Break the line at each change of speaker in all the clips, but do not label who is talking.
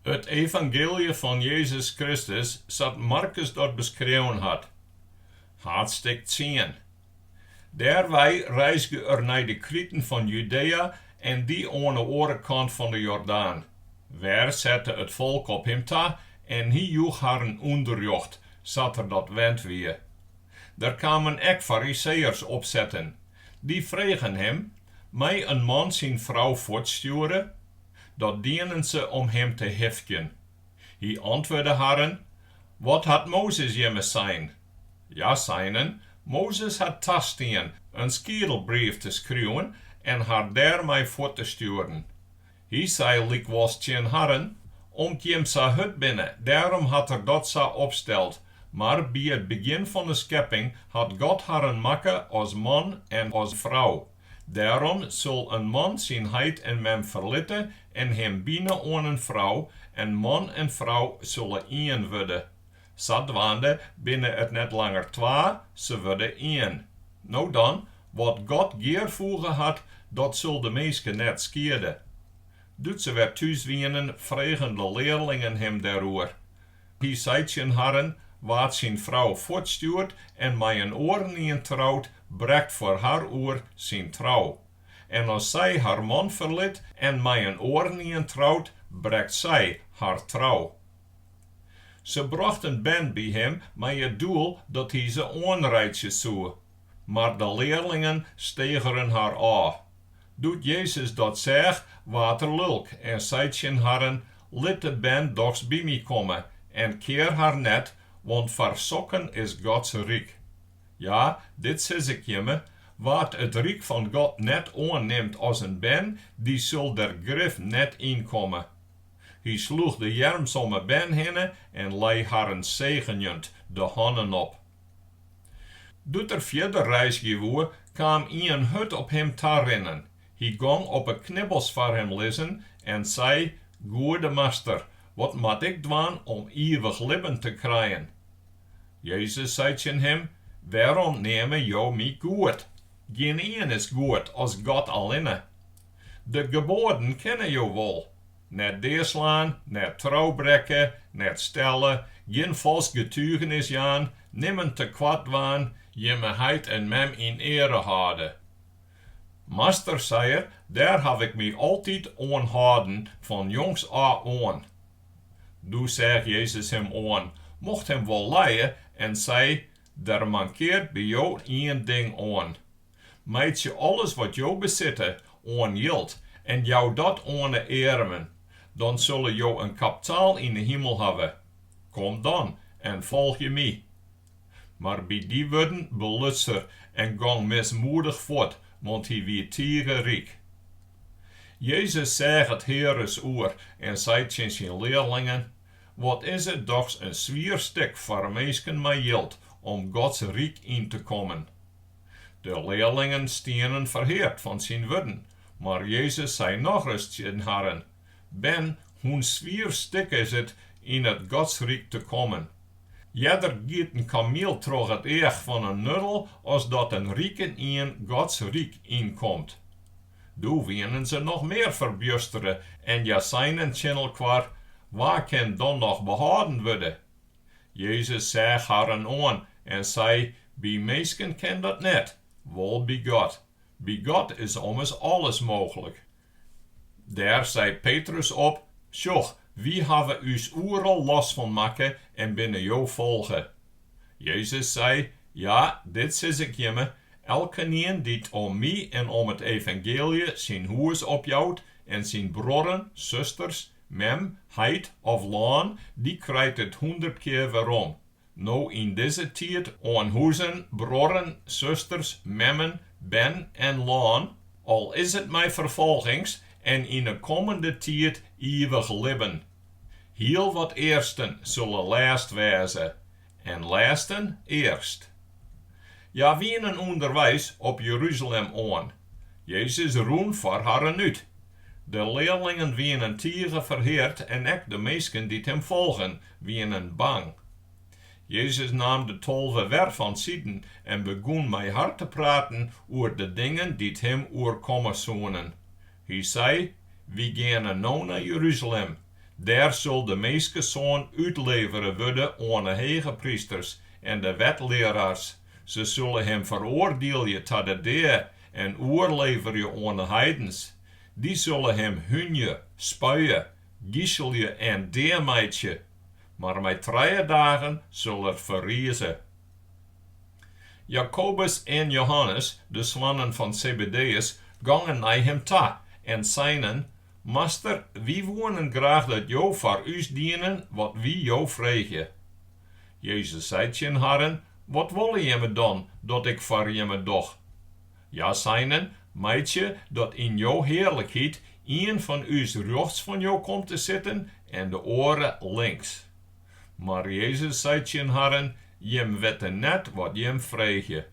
It evangeelje fan Jezus Kristus sa't Markus dat beskreaun hat, haadstik tsien. Dêrwei reizge er nei de kriten fan Judea en die oan 'e oare kant fan 'e Jordaan. Wer sette it folk op him ta en hy joech harren ûnderrjocht, sa't er dat wend wie. Der kamen ek Fariseeërs opsetten. Dy fregen him, Mei in man syn frou fuortstjoere? Dat dienen se om him te hifkjen. Hy antwurde harren, Wat hat Mozes jimme sein? Hja seinen, Mozes hat tastien in skiedelbrief te skriuwen en har dêrmei fuort te stjoeren. Hy sei lykwols tsjin harren, Om't jim sa hurd binne, dêrom hat er dat sa opsteld, mar by it begjin fan 'e skepping hat God harren makke as man en as frou. Dêrom sil in man syn heit en mem ferlitte en him bine oan in frou, en man en frou sille ien wurde. Sadwaande binne it net langer twa, se wurde ien. No dan, wat God gearfoege hat, dat sil de minske net skiede. Doe't se wer thús wienen, fregen de learlingen him dêroer. Hy sei tsjin harren, Wa't syn frou fuortstjoert en mei in oarenien trout, brekt foar har oer syn trou. En as sy har man ferlit en mei in oarenien trout, brekt sy har trou. Se brochten bern by him mei it doel dat hy se oanreitsje soe. Mar de learlingen stegeren har ôf. Doe't Jezus dat seach, waard er lulk en sei tsjin harren, Lit de bern dochs by my komme en kear har net, want foar sokken is Gods ryk. Ja, dit sis ik jimme, Wa't it ryk fan God net oannimt as in bern, dy sil der grif net yn komme. Hy sloech de earms om 'e bern hinne en lei harren segenjend de hannen op. Doe't er fierder reizgje woe, kaam ien hurd op him ta rinnen. Hy gong op 'e knibbels foar him lizzen en sei, Goede Master, wat moat ik dwaan om ivich libben te krijen? Jezus sei tsjin him, Wêrom neame jo my goed? Gjinien is goed as God allinne. De geboaden kenne jo wol. Net deaslaan, net trou brekke, net stelle, gjin falsk getugenis jaan, nimmen tekoart dwaan, jimme heit en mem yn eare hâlde. Master, sei er, dêr haw ik my altyd oan hâlden fan jongs ôf oan. Doe seach Jezus him oan, mocht him wol lije, en sei, Der mankeart by jo ien ding oan, Meitsje alles wat jo besitte oan jild en jou dat oan 'e earmen, dan sille jo in kaptaal yn 'e himel hawwe. Kom dan en folgje my. Mar by dy wurden beluts er en gong mismoedich fuort, want hy wie tige ryk. Jezus seach it hear ris oer en sei tsjin syn learlingen, Wat is it dochs in swier stik foar minsken mei jild om Gods ryk yn te kommen! De learlingen stienen ferheard fan syn wurden, mar Jezus sei nochris tsjin harren, Bern, hoe'n swier stik is it yn it Godsryk te kommen! Earder giet in kamiel troch it each fan in nuddel as dat in rikenien Gods ryk ynkomt. Doe wienen se noch mear ferbjustere en hja seinen tsjin elkoar, Wa kin dan noch behâlden wurde? Jezus seach harren oan en sei, By minsken kin dat net, wol by God. By God is ommers alles mooglik. Dêr sei Petrus op, Sjoch, wy hawwe ús oeral los fan makke en binne jo folge. Jezus sei, Ja, dit sis ik jimme, elkenien dy't om my en om it evangeelje syn hûs opjout en syn bruorren, susters Mem, heit of lân, dy krijt it hûndert kear werom. No yn dizze tiid oan huzen, bruorren, susters, memmen, bern en lân, al is it mei ferfolgings, en yn 'e kommende tiid iivich libben. Hiel wat earsten sille lêst wêze, En lêsten earst. Hja wienen ûnderweis op Jeruzalem oan. Jezus rûn foar harren út. De learlingen wienen tige ferheard en ek de minsken dy't him folgen, wienen bang. Jezus naam de tolve wer fansiden en begûn mei har te praten oer de dingen dy't him oerkomme soenen. Hy sei, Wy geane no nei Jeruzalem. Dêr sil de Minskesoan útlevere wurde oan 'e hegeprysters en de wetlearaars. Se sille him feroardielje ta de dea en oerleverje oan 'e heidens. Dy sille him húnje, spuie, giselje en dea meitsje, mar mei trije dagen sil er ferrize. Jakobus en Johannes, de soannen fan Sebedeus, gongen nei him ta en seinen, Master, wy woenen graach dat Jo foar ús dienen wat wy Jo freegje. Jezus sei tsjin harren, Wat wolle jimme dan dat ik foar jimme doch? Hja seinen, Meitsje dat yn Jo hearlikheid ien fan ús rjochts fan Jo komt te sitten en de oare links. Mar Jezus sei tsjin harren, Jim witte net wat jim freegje.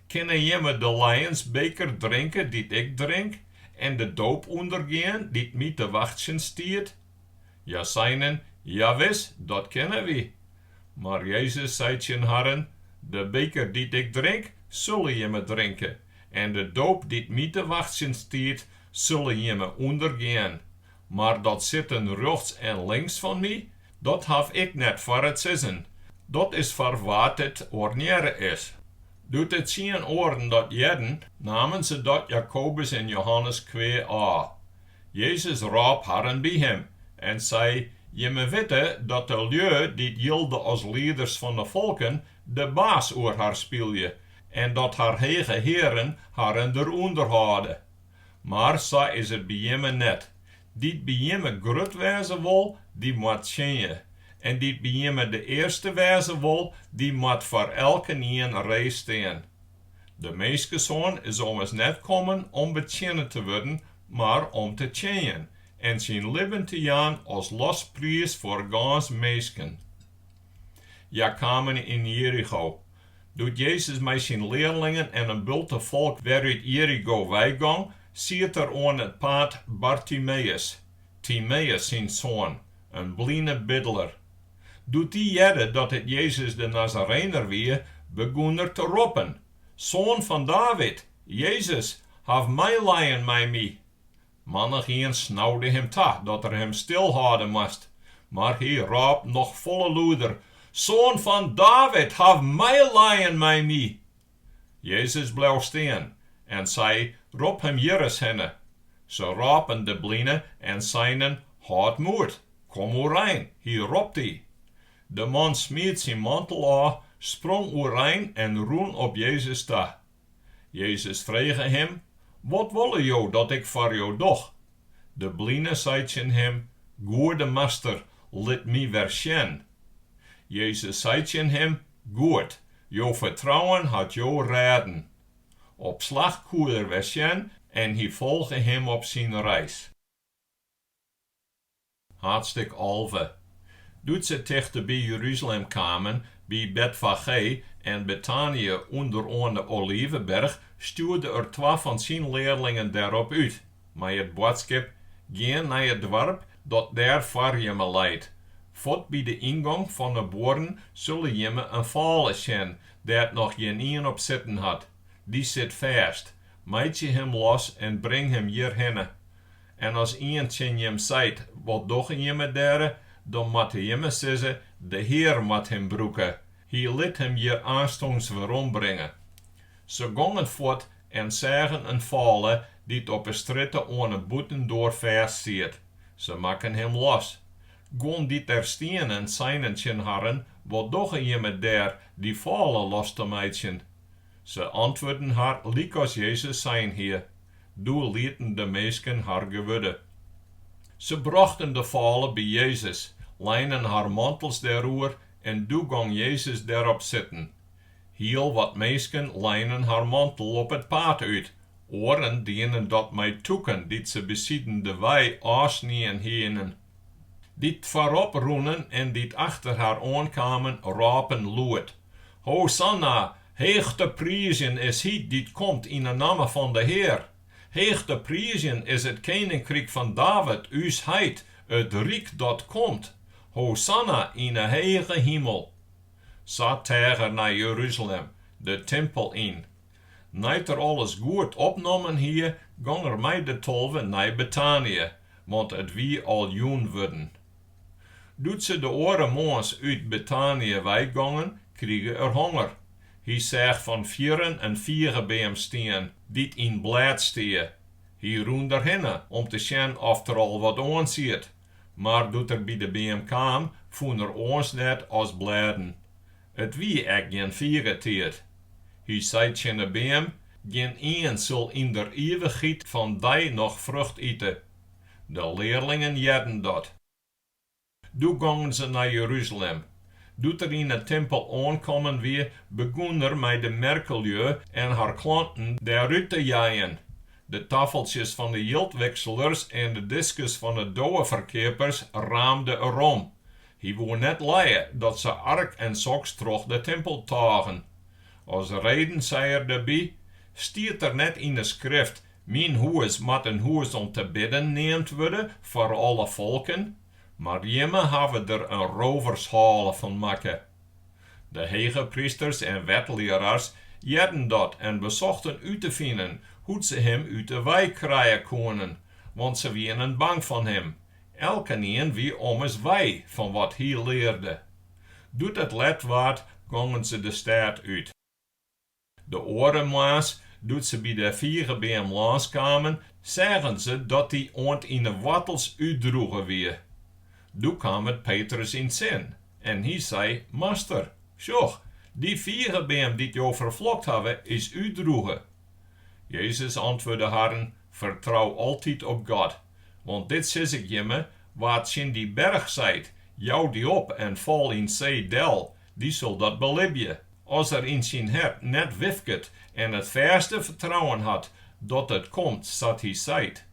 Kinne jimme de lijensbeker drinke dy't ik drink en de doop ûndergean dy't my te wachtsjen stiet? Hja seinen, Jawis, dat kinne wy. Mar Jezus sei tsjin harren, De beker dy't ik drink, sulle jimme drinke, en de doop dy't my te wachtsjen stiet, sulle jimme ûndergean, Mar dat sitten rjochts en links fan my, dat haw ik net foar it sizzen. Dat is foar wa't it oarnearre is. Doe't de tsien oaren dat hearden, namen se dat Jakobus en Johannes kwea ôf. Jezus rôp harren by him en sei, Jimme witte dat de lju dy't jilde as lieders fan de folken de baas oer har spylje en dat har hege hearen harren derûnder hâlde. Mar sa is it by jimme net. Dy't by jimme grut wêze wol, dy moat tsjinje. En dy't by jimme de earste wêze wol, dy moat foar elkenien ree stean. De Minskesoan is ommers net kommen om betsjinne te wurden, mar om te tsjinjen en syn libben te jaan as lospriis foar gâns minsken. Hja kamen yn Jerigo. Doe't Jezus mei syn learlingen en in bulte folk wer út Jerigo weigong, siet der oan it paad Bartimeus, Timeus syn soan, in bline bidler. Doe't dy hearde dat it Jezus de Nazarener wie, begûn er te roppen, Soan fan David, Jezus, haw meilijen mei my! Mannichien snaude him ta dat er him stilhâlde moast, mar hy rôp noch folle lûder, Soan fan David, haw meilijen mei my! Jezus bleau stean en sei, Rop him hjir ris hinne. Se rôpen de bline en seinen, Hâld moed, kom oerein, hy ropt dy. De man smiet syn mantel ôf, sprong oerein en rûn op Jezus ta. Jezus frege him, Wat wolle jo dat ik foar jo doch? De bline sei tsjin him, Goede Master, lit my wer sjen. Jezus sei tsjin him, Goed, jo fertrouwen hat jo rêden. Op slach koe er wer sjen en hy folge him op syn reis. Haadstêk alve. Doe't se tichte by Jeruzalem kamen, by Betfagé en Betanië ûnder oan 'e Oliveberch, stjoerde er twa fan syn learlingen dêrop út, mei it boadskip, Gean nei it doarp dat dêr foar jimme leit. Fuort by de yngong fan 'e buorren sulle jimme in fâle sjen dêr't noch gjinien op sitten hat. Dy sit fêst. Meitsje him los en bring him hjirhinne. En as ien tsjin jim seit, Wat dogge jimme dêre? dan moatte jimme sizze, De Hear moat him brûke. Hy lit him hjir aanstûns werombringe. Se gongen fuort en seagen in fôle dy't op 'e strjitte oan 'e bûtendoar fêst siet. Se makken him los. Guon dy't dêr stienen seinen tsjin harren, Wat dogge jimme dêr dy fôle los te meitsjen? Se antwurden har lykas Jezus sein hie, doe lieten de minsken har gewurde. Se brochten de fôle by Jezus, leinen har mantels dêroer en doe gong Jezus derop sitten. Hiel wat minsken leinen har mantel op it paad út, oaren dienen dat mei tûken dy't se besiden de wei ôfsnien hienen. Dy't foarop rûnen en dy't achter har oankamen, rôpen lûd. Hosanna, heech te priizjen is hy dy't komt yn 'e namme fan de Hear! Heech te priizjen is it keninkryk fan David, ús heit, it ryk dat komt! Hosanna yn 'e hege himel! Sa teach er nei Jeruzalem, de timpel yn. Nei't er alles goed opnommen hie, gong er mei de tolve nei Betanië, want it wie al jûn wurden. Doe't se de oare moarns út Betanië weigongen, krige er honger. Hy seach fan fierren in figebeam stean, dy't yn blêd stie. Hy rûn derhinne om te sjen oft der al wat oan siet, mar doe't er by de beam kaam, fûn er oars net as blêden. It wie ek gjin figetiid. Hy sei tsjin 'e beam, Gjin ien sil yn der ivichheid fan dy noch frucht ite. De learlingen hearden dat. Doe gongen se nei Jeruzalem. Doe't er yn 'e timpel oankommen wie, begûn er mei de merkelju en har klanten dêrút te jeien. De tafeltsjes fan 'e jildwikselers en de diskes fan 'e doweferkeapers raamde er om. Hy woe net lije dat se ark en soks troch de timpel tôgen. As reden sei er derby, Stiet der net yn 'e Skrift Myn hûs moat in hûs om te bidden neamd wurde foar alle folken, mar jimme hawwe der in rôvershoale fan makke. De hegeprysters en wetlearaars hearden dat en besochten út te finen hoe't se him út de wei krije koenen, want se wienen bang fan him, elkenien wie ommers wei fan wat hy learde. Doe't it let waard, gongen se de stêd út. De oare moarns, doe't se by de figebeam lâns kamen, seagen se dat dy oant yn 'e woartels útdroege wie. Doe kaam it Petrus yn 't sin en hy sei, Master, sjoch, dy figebeam dy't jo ferflokt hawwe, is útdroege. Jezus antwurde harren, Fertrou altyd op God. Want dit sis ik jimme, Wa tsjin dy berch seit, Jou dy op en fal yn 't see del, dy sil dat belibje, as er yn syn hert net wifket en it fêste fertrouwen hat dat it komt sa't hy seit.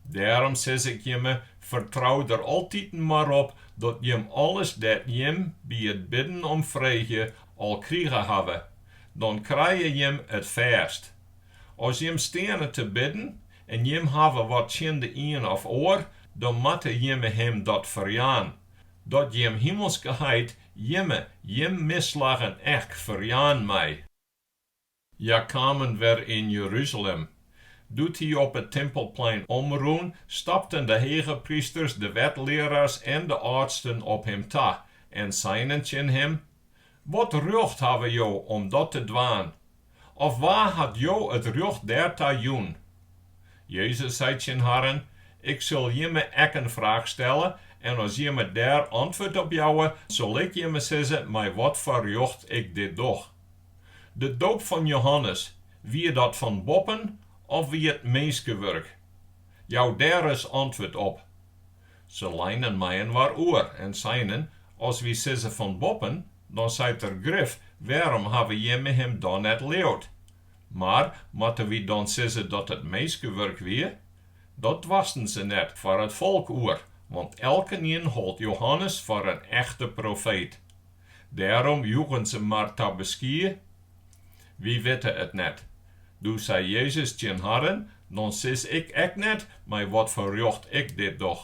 Dêrom sis ik jimme, fertrou der altiten mar op dat jim alles dêr't jim by it bidden om freegje, al krige hawwe, dan krije jim it fêst. As jim steane te bidden en jim hawwe wat tsjin de ien of oar, dan moatte jimme him dat ferjaan. Dat jim himelske Heit jimme jim misslaggen ek ferjaan mei. Hja kamen wer yn Jeruzalem. Doe't hy op it timpelplein omrûn, stapten de hegeprysters, de wetlearaars en de âldsten op him ta en seinen tsjin him, Wat rjocht hawwe jo om dat te dwaan? Of wa hat jo it rjocht dêrta jûn? Jezus sei tsjin harren, Ik sil jimme ek in fraach stelle, en as jimme dêr antwurd op jouwe, sil ik jimme sizze mei wat foar rjocht ik dit doch. De doop fan Johannes, wie dat fan boppen of wie it minskewurk? Jou dêr ris antwurd op. Se leinen mei-inoar oer en seinen, As wy sizze fan boppen, dan seit er grif, Wêrom hawwe jimme him dan net leaud? Mar moatte wy dan sizze dat it minskewurk wie? Dat doarsten se net foar it folk oer, want elkenien hold Johannes foar in echte profeet. Dêrom joegen se mar ta beskie, Wy witte it net. Doe sei Jezus tsjin harren, Dan sis ik ek net, mei wat foar rjocht ik dit doch.